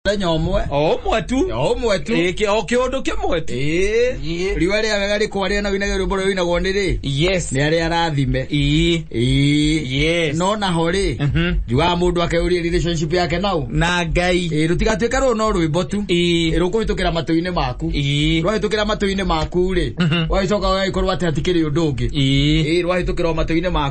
mũthenya ũmwe o ũmwe tu o ũmwe tu Ĩ, kĩ- o kĩũndũ kĩmwe tu Ĩĩ. Ĩĩ. riũa rĩa wega rĩkwa rĩa nawinaga rwĩmbo rũrĩa rũinagwo nĩ rĩ yes nĩ arĩa arathime Ii. Ĩĩ. yes no naho rĩ Mhm. njugaga mũndũ akeyũria relationship yake nau na ngai Ĩĩ, rũtigatuĩka rũrũ no rwĩmbo tu Ĩĩ. Ĩĩ, rũkũhĩtũkĩra matũ-inĩ maku Ĩĩ. rwahĩtũkĩra matũ-inĩ maku rĩ Mhm. wagĩcoka wagĩkorwo atĩ hatikĩrĩ ũndũ ũngĩ Ĩĩ. Ĩĩ, rwahĩtũkĩra o matũ-inĩ maku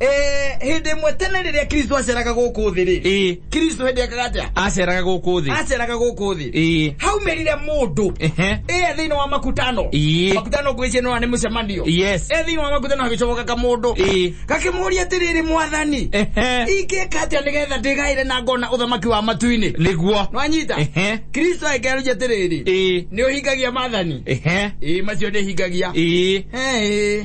Eh, hĩndĩ ĩmwe tene rĩrĩa kristo aceraga gũkũ thĩ rĩ Ĩĩ. kristo hĩndĩ ekaga atĩa aceraga gũkũ thĩ aceraga gũkũ thĩ Ĩĩ. haumerire mũndũ Ehe. ĩe thĩinĩ wa makutano Ĩĩ. makutano ngwĩcie nĩwa nĩ mũcemanio Yes. ĩe thĩinĩ wa makutano hagĩcoka kamũndũ Ĩĩ. gakĩmũria atĩrĩrĩ mwathani Ehe. ingĩka atĩa nĩgetha ndĩgaĩre na ngona ũthamaki wa matu-inĩ nĩguo nwanyita Ehe. kristo agĩkĩaruja atĩrĩrĩ Ĩĩ. nĩ ũhingagia mathani Ehe. ĩĩ macio nĩhingagia Ĩĩ. Ĩĩ.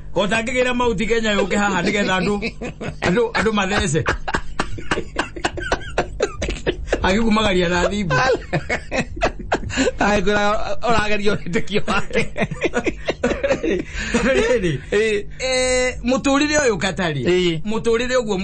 kotangĩgĩra mauti kenya yũke haha nĩgetha andũ andũ andũ mathece agĩkumagaria na thimbu akwĩra ũrageria ũhĩtũkio wake rĩrĩ Eh. eh, mũtũrĩre ũyũ katari Ĩĩ. mũtũrĩre ũguo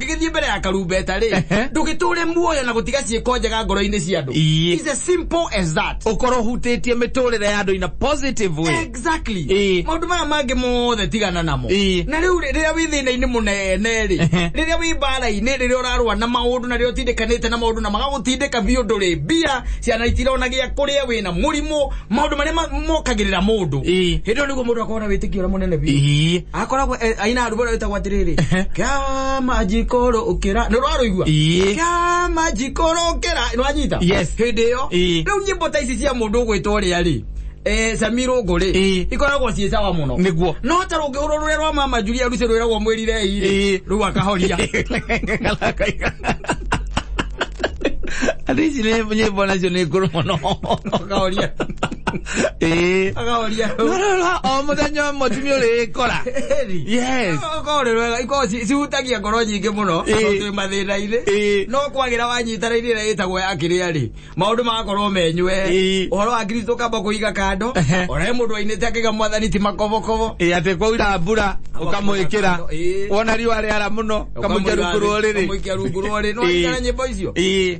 gĩgĩthiĩ mbere ya karumbeta rĩ Ehe. ndũgĩtũre muoyo na gũtiga ciĩko njega ngoro-inĩ cia andũ Iye. It's as simple as that ukorwo ũhutĩtie mĩtũrĩre ya andũ in a positive way exactly Ĩĩ. maũndũ maya mangĩ mothe tigana namo Ĩĩ. na rĩu rĩ- rĩrĩa wĩ thĩna-inĩ mũnene rĩ Ehe. rĩrĩa wĩ mbara-inĩ rĩrĩa ũrarũa na maũndũ na rĩrĩa ũtindĩkanĩte na maũndũ na magagũtindĩka biũ ndũrĩ mbia ciana itirona gĩa kũrĩa wĩna mũrimũ maũndũ marĩa ma- mokagĩrĩra mũndũ Ĩĩ. hĩndĩ ĩyo nĩguo mũndũ akorwo na wĩtĩkio ũrĩa mũnene biũ Ii. akoragwo e- aina rwĩmbo rũrĩa rwĩtagwo atĩrĩrĩ Ehe. kĩama njikũrũ ũkĩra nĩ rwarũigua Ĩĩ. kĩama njikũrũ ũkĩra nĩwanyita Yes. hĩndĩ ĩyo Ĩĩ. rĩu nyĩmbo ta ici cia mũndũ ũgwĩtwo ũrĩa rĩ eh, sami rũngũ rĩ Ĩĩ. ikoragwo ciĩ sawa mũno Nĩguo. no ta rũngĩhũrwo rũrĩa rwa mama julia rusi rwĩragwo mwĩrirei rĩ Ĩĩ. rĩu akahoria andå ici nä nyä mbo nacio nä ngå rå må no akahoria ĩĩ akaoria hau rora o mũthenya ũmwe tumia ũrĩkora Eri. yes Ũkorĩ wega ikorwo ci- cihutagia ngoro nyingĩ mũno Ĩĩ. tondũ twĩ mathĩna-inĩ Ĩĩ. no kwagĩra wanyita raini ĩrĩa ĩtagwo ya kĩrĩa rĩ maũndũ magakorwo menywe Ĩĩ. ũhoro wa kristo kamba kũiga kando Ehe. ũrae mũndũ wainĩte akĩga mwathani ti makobokobo ĩĩ atĩ kwaura mbura ũkamwĩkĩra Ĩĩ. wona riũa rĩara mũno ũkamũikia rungu rũrĩrĩ ũkamũikia rungu rũrĩrĩ nĩwaigana nyĩmbo icio ĩĩ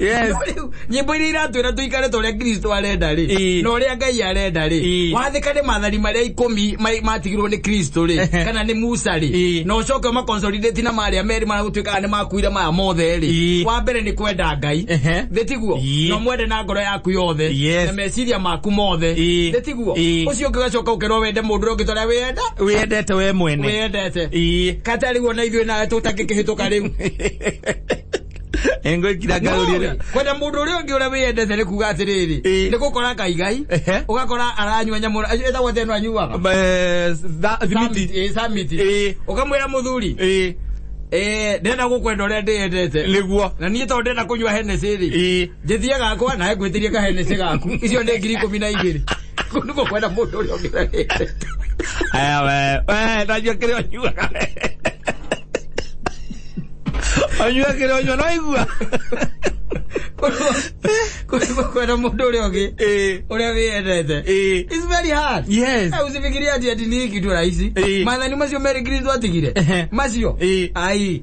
Yes. nyimbo iria iratwira tuikare ta uria kristo arenda ri Ĩĩ. na uria ngai arenda ri Ĩĩ. wathika ni mathari maria ikumi ma- matigirwo ni kristo ri Ehe. kana ni musa ri Ĩĩ. na ucoke umaconsolidate na maria meri maria gutuikaga ni makuire maya mothe ri Ĩĩ. wa mbere ni kwenda ngai Ehe. thitiguo Ĩĩ. na mwende na ngoro yaku yothe Yes. na meciria maku mothe Ĩĩ. thitiguo Ĩĩ. ucio ungi ugacoka ukirwo wende mundu uria ungi toria wiyenda wĩendete we mwene wiyendete Ĩĩ. kata riu ona ithuĩ nawe tũtangĩkĩhĩtũka rĩu engwikira ngarurire kwenda mundu uria ungi uria wiyendete ni kuga atiriri Ĩĩ. ni gukora ngai ngai Ehe. ugakora aranyua nyamu etagwo theno anyuaga Eh, tha- thimiti Ĩĩ, samiti Ĩĩ. ukamwira muthuri Eh, eh, ndenda gukwenda uria ndiyendete niguo na niä tondå ndä na kå nyua henecä rä ĩ njĩthie gakwa nawe ngwĩtĩrie kahenece gaku icio nĩ ngiri ikũmi na igĩrĩ kũu nĩkuo kwenda mũndũ ũrĩa ũngĩrarĩte aya we we najua kĩrĩa ũnyuaga we ũnyua kĩrĩa ũnyua noigua kũu nĩkuo kwenda mũndũ ũrĩa ũngĩ ũrĩa wĩyendete It's very hard. Yes. Eh, usifikirie ati ati ni kitu rahisi. Eh. Madhani macio Mary Green twatigire. Ehe. Macio. Eh. Ai.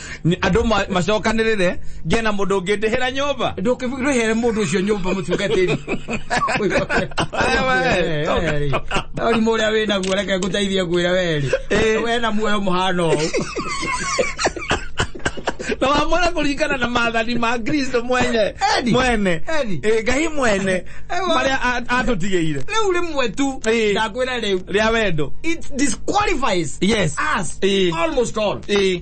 Nĩ- andũ ma- macokanĩrĩre ngiye na mũndũ ũngĩ ndĩhĩra nyũmba ndũkĩrĩhere mũndũ ũcio nyũmba mũtungatĩri ũrimũ ũrĩa wĩ naguo reke ngũteithie ngwĩra werĩ Eh. we na muoyo mũhana ũũ na wamwona kũringana na maathani ma kristo mwene Edi. mwene Edi. Eh, ngai mwene Ewa. marĩa a- atũtigĩire rĩu rĩmwe tu Eh. ndakwĩra rĩu rĩa wendo it disqualifies Yes. us Eh. almost all Eh.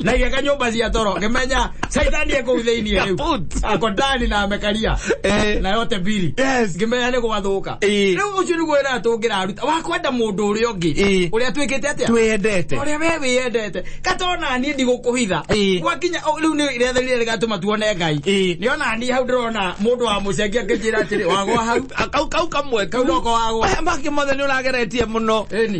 na igeka nyũmba cia toro ngĩmenya caitani ĩ kũu thĩinĩ rĩu Kaput. ako ndani na amekaria Eh. na yote mbiri Yes. ngĩmenya nĩ gwathũka Eh. rĩu ũcio nĩguo wĩra tũngĩraruta wakwenda mũndũ ũrĩa Eh. ũngĩ ũrĩa twĩkĩte atĩa twendete ũrĩa we wĩyendete katona niĩ ndigũkũhitha Ĩĩ. gwakinya o, rĩu nĩ rĩetha rĩrĩa rĩgatũma tuone ngai Ĩĩ. nĩ ona niĩ hau ndĩrona mũndũ wa mũcengia ngĩnjĩra atĩrĩ wagwa hau kau kau kamwe Kau noko wagwa. Aya mangĩ mothe nĩ ũrageretie mũno Ĩni.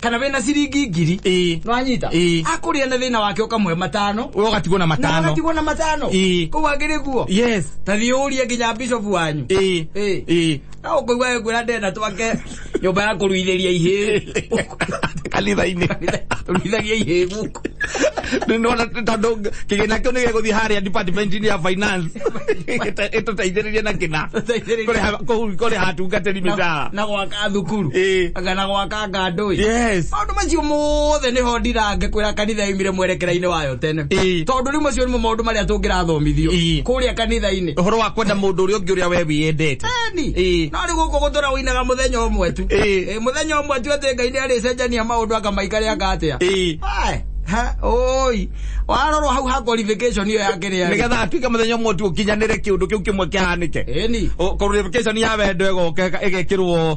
kana wĩna ciringi ngiri Ĩĩ. nwanyita Ĩĩ. akũrĩa na thĩna wake ũkamũhe matano ũgatigwo na na matano agatigwo na matano Ĩĩ. kũu agĩrĩ guo yes ta thiĩ ũrie nginya bishofu wanyu Ĩĩ. Ĩĩ. Ĩĩ. na ũkũigua we ngwĩra ndenda twake nyũmba ya kũruithĩria ihĩĩ kanitha-inĩ tũruithagia ihĩĩ gũkũ nona tondå kä gä na kä u nä gä gå thiä harä a department-inĩ ya finance ä tå teithä rä rie na kä na Tũteithĩrĩrie. kå rä ha atungatä ri mä Na- cara na gwaka thukuru Ĩĩ. Anga na gwaka kũrenganga andũ ĩ Yes. maũndũ macio mothe nä ho ndirange kwä ra kanitha yaumire mwerekera-inĩ wayo tene Ĩĩ. tondå rä u macio nĩmo maũndũ marĩa tå ngä rathomithio Ĩĩ. kå rä a kanitha-inĩ Ũhoro wa kwenda mũndũ ũrĩa ũngĩ ũrĩa we wĩyendete. Eni. Ĩĩ. no rä gå kå gå tå ra wä inaga må thenya å mwe tu Ĩĩ. Ĩ, må thenya å mwe tu atä ngai nä arä cenjania maå ndå akamaikare anga atä a Ĩĩ. oi warorwo hau ha qualification ĩyo ya kä rä Nĩgetha atuĩke mũthenya ũmwe tu ũkinyanĩre kĩũndũ kĩu kĩmwe kĩhanĩke. eni O- Qualification ya wendo ĩgoka ĩgekĩrwo